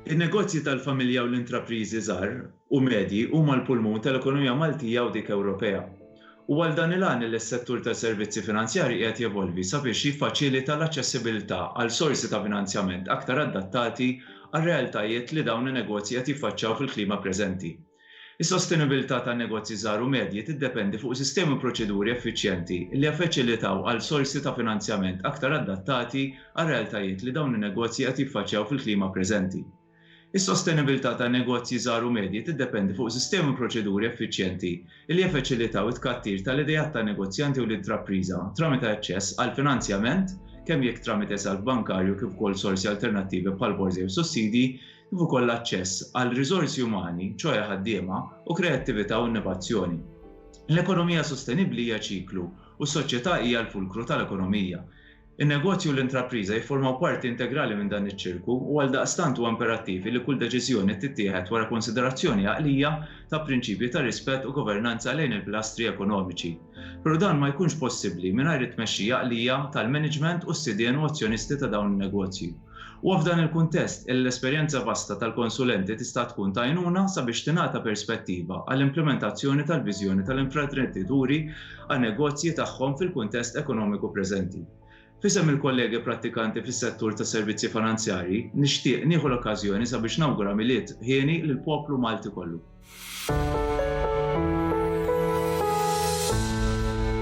In-negozji tal-familja u l-intrapriżi żgħar u medji huma l-pulmun tal-ekonomija Maltija u dik Ewropea. U għal dan il-għan li s-settur tas-servizzi finanzjarji qiegħed jevolvi sabiex jiffaċilita l-aċċessibilità għal sorsi ta' finanzjament aktar adattati għar-realtajiet li dawn in-negozji qed jiffaċċjaw fil-klima preżenti. Is-sostenibilità tan-negozji żgħar u medji tiddependi fuq sistemi u proċeduri effiċjenti li jaffaċilitaw għal sorsi ta' finanzjament aktar adattati għar-realtajiet li dawn in-negozji qed jiffaċċjaw fil-klima preżenti. Is-sostenibilità tan-negozji żgħar u medji tiddependi fuq sistemi u proċeduri effiċjenti li jaffaċilitaw it-tkattir tal-ideat tan-negozjanti u l-intrapriża tramite aċċess għall-finanzjament, kemm jekk tramite salv bankarju kif ukoll sorsi alternattivi bħall-borża jew sussidji, kif ukoll l-aċċess għal riżorsi umani, ċoe ħaddiema, u kreattività u innovazzjoni. L-ekonomija sostenibbli hija ċiklu, u s-soċjetà hija l-fulkru tal-ekonomija. In-negozju u l-intrapriża jifformaw parti integrali minn dan iċ-ċirku u għaldaqstant huwa imperattiv li kull deċiżjoni tittieħed wara konsiderazzjoni għaqlija ta' prinċipji ta' rispett u governanza lejn il-pilastri ekonomiċi. Però dan ma jkunx possibbli mingħajr it-tmexxija għaqlija tal-maniġment u s-sidien u azzjonisti ta' dawn in-negozji. Huwa f'dan il-kuntest illi l-esperjenza vasta tal-konsulenti tista' tkun ta' għajnuna sabiex tingħata perspettiva għall-implimentazzjoni tal-viżjoni tal-imprendituri għan-negozji tagħhom fil-kuntest ekonomiku preżenti. F'isem il-kollegi prattikanti fis-settur tas-servizzi finanzjarji, nixtieq nieħu l-okkażjoni sabiex nawgura Milied hieni lill-poplu Malti kollu.